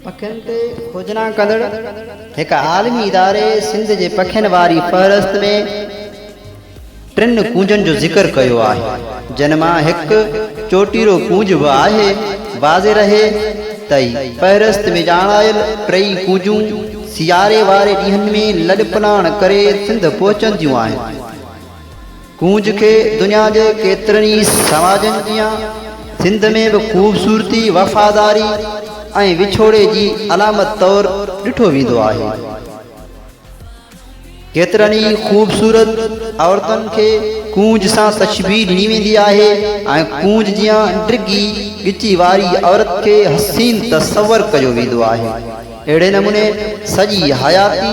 پکين تي کوجنا ڪندڙ هڪ عالمي اداري سنڌ جي پکين واري فهرست ۾ ٽن ڪونجن جو ذڪر ڪيو آهي جن مان هڪ چوٽيرو ڪونج به آهي واضح رهي ته فهرست ۾ ڄاڻايل ٽئي ڪونجون سياري واري ڏينهن ۾ لڏپلاڻ ڪري سنڌ پهچنديون آهن ڪونج کي دنيا جي ڪيترن ئي سماجن جيان سنڌ ۾ به خوبصورتي، وفاداري ۽ وڇوڙي جي علامت طور ڏٺو ويندو آهي. ڪيترن ئي خوبصورت عورتن کي ڪونج سان تشبيهه ڏني ويندي آهي ۽ ڪونج جيان ڊگهي ڳچي واري عورت کي حسين تصور ڪيو ويندو آهي. اهڙي نموني سڄي حياتي.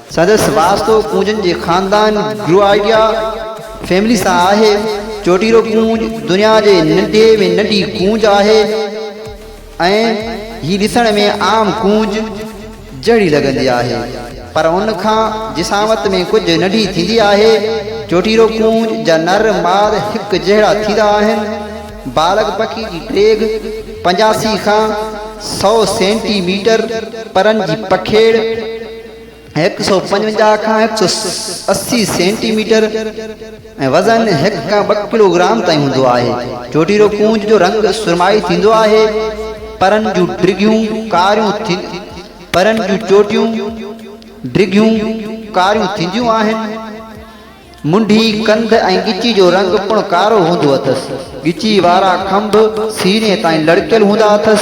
سندس واسطو ڪونجن جي خاندان گروئيڊيا فيملي سان آهي. چوٽيرو ڪونج دنيا جي ننڍي ۾ ننڍي ڪونج آهي ۽ هي ڏسڻ ۾ عام ڪونج جهڙي لڳندي آهي، پر ان کان جسامت ۾ ڪجهه ننڍي ٿيندي آهي. چوٽيرو ڪونج جا نر ماد هڪ جهڙا ٿيندا آهن. بالغ پکي جي ڊيگهه پنجاسي کان سؤ سينٽي ميٽر، پرن جي پکيڙ، هڪ سؤ پنجونجاهه کان هڪ سؤ اسي سينٽي ميٽر ۽ وزن هڪ کان ٻه ڪلو گرام تائين هوندو آهي. چوٽيرو ڪونج جو رنگ سرمائي ٿيندو آهي. پرن جون ڊگهيون ڪاريون پرن جون چوٽيون ڊگهيون ڪاريون ٿينديون آهن. منڍي، ڪنڌ ۽ ڳچي جو رنگ پڻ ڪارو هوندو اٿس. ڳچي وارا کنڀ سيني تائين لڙڪيل هوندا اٿس،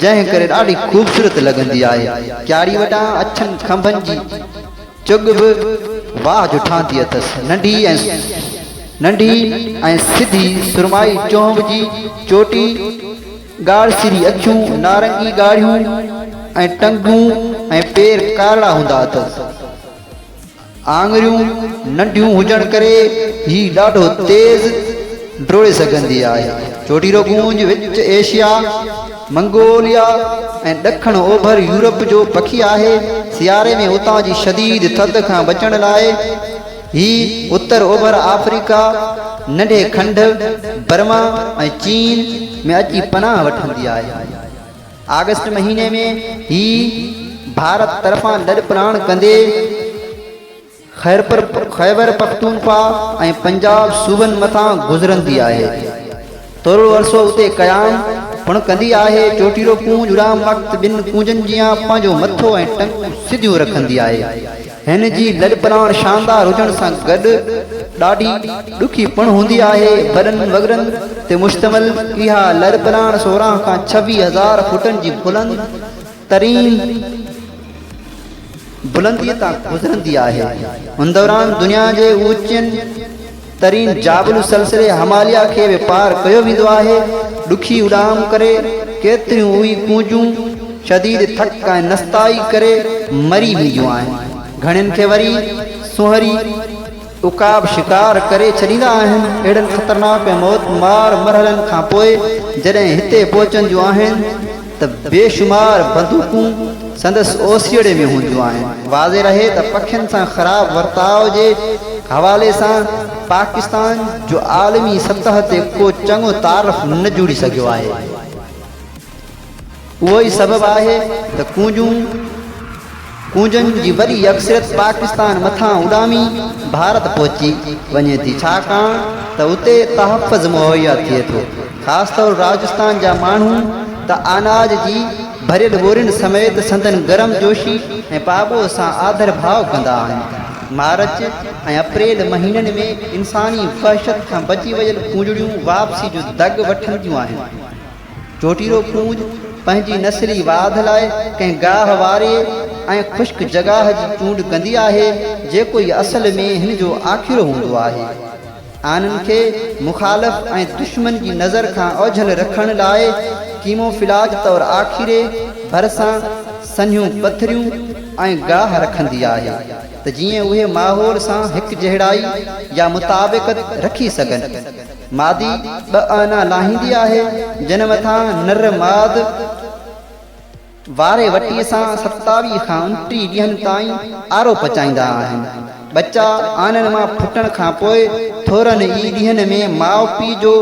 جنهن ڪري ڏاڍي خوبصورت لڳندي آهي. ڪياڙي وٽان اڇن کنڀن جي چڳ به واهه جو ٺاهندي اٿس. ننڍي ۽ سڌي سرمائي چونب جي چوٽي، ڳاڙهه سري اکيون، نارنگي ڳاڙهيون ۽ ٽنگون ۽ پير ڪارڙا هوندا اٿس. آڱريون ننڍيون هجڻ ڪري هي ڏاڍو تيز ڊوڙي سگهندي آهي. چوٽيرو گونج وچ ايشيا، منگوليا ۽ ڏکڻ اوڀر يورپ جو پکي آهي. سياري ۾ اتان جي شديد ٿڌ کان بچڻ لاء هي اتر اوڀر آفريڪا، ننڍي کنڊ، برما ۽ چين ۾ اچي پناهه وٺندي آهي. آگسٽ مهيني ۾ هي ڀارت طرفان لڏپلاڻ ڪندي خيبرپختونخوا ۽ پنجاب صوبن مٿان گذرندي آهي ٿورڙو عرصو اتي قيام پڻ ڪندي آهي چوٽيلو ڪونج اڏام وقت ٻن ڪونجن جيان پنهنجو مٿو ۽ ٽنگون سڌيون رکندي آهي هن جي لڏپلاڻ شاندار هجڻ سان گڏ ڏاڍي ڏکي پڻ هوندي آهي. وڏن وڳڙن تي مشتمل اها لڏپلاڻ سورهن کان ڇويهه هزار فوٽن جي بلند ترين بلنديء تان گذرندي آهي. ان دوران دنيا جي اوچين ترين جابلو سلسلي هماليا کي به پار ڪيو ويندو آهي. ڏکي اڏام ڪري، ڪيتريون اوهي ڪونجون شديد ٿڪ ۽ نستائي ڪري مري وينديون آهن. گهڻين کي وري سونهري عقاب شڪار ڪري ڇڏيندا آهن. اهڙن خطرناڪ ۽ موت مار مرحلن کان پوء جڏهن هتي پهچنديون آهن، ته بي شمار بندوقون سندس اوسيئڙي ۾ هونديون آهن. واضح رهي ته پکين سان خراب ورتاء جي حوالي سان پاڪستان جو عالمي سطح تي ڪو چڱو تعارف نه جڙي سگهيو آهي. اهو ئي سبب آهي ته ڪونجون ڪونجن جي وڏي اڪثريت پاڪستان مٿان اڏامي ڀارت پهچي وڃي ٿي ڇاڪاڻ ته اتي تحفظ مهيا ٿئي ٿو خاص طور راجستان جا ماڻهو ته آناج جي ڀريل ٻورين سميت سندن گرم جوشي ۽ پاٻوهه سان آڌر ڀاء ڪندا آهن مارچ ۽ اپريل مهينن ۾ انساني وحشت کان بچي ويل ڪونجڙيون واپسي جو دڳ وٺنديون آهن. جوٽيرو ڪونج پنهنجي نسلي واڌ لاء ڪنهن گاهه واري ۽ خشڪ جڳاهه جي چونڊ ڪندي آهي، جيڪو ئي اصل ۾ هن جو آکيرو هوندو آهي. آنن کي مخالف ۽ دشمن جي نظر کان اوجهل رکڻ لاء ڪيموفلاج طور آکيري ڀرسان سنهيون پٿريون ۽ گاهه رکندي آهي ته جيئن اهي ماحول سان هڪجهڙائي يا مطابقت رکي سگهن. مادي ٻه آنا لاهيندي آهي، جن مٿان نر ماد واري وٽي سان ستاويهه کان انٽيهه ڏينهن تائين آرو پچائيندا آهن. ٻچا آنن مان ڦٽڻ کان پوء ٿورن ئي ڏينهن ۾ ماء پيء جو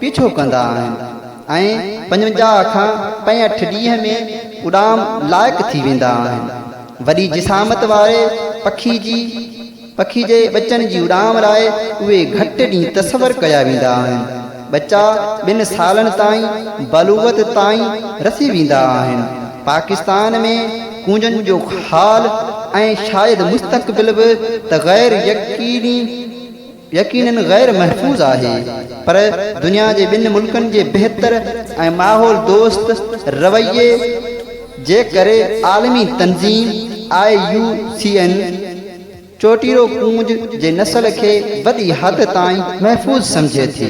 پيڇو ڪندا آهن ۽ پنجونجاهه کان پنجهٺ ڏينهن ۾ اڏام لائق ٿي ويندا آهن. وڏي جسامت واري پکي جي پکي جي ٻچن جي اڏام لاء اهي گهٽ ڏينهن تصور ڪيا ويندا آهن. ٻچا ٻن سالن تائين بلوغت تائين رسي ويندا آهن. پاڪستان ۾ ڪونجن جو حال ۽ شايد مستقبل به ته غير يقيني يقينن غير محفوظ آهي پر دنيا جي ٻن ملڪن جي بهتر ۽ ماحول دوست رويي جي ڪري عالمي تنظيم آء يو سي اين چوٽيرو ڪونج جي نسل کي وڏي حد تائين محفوظ سمجهي ٿي.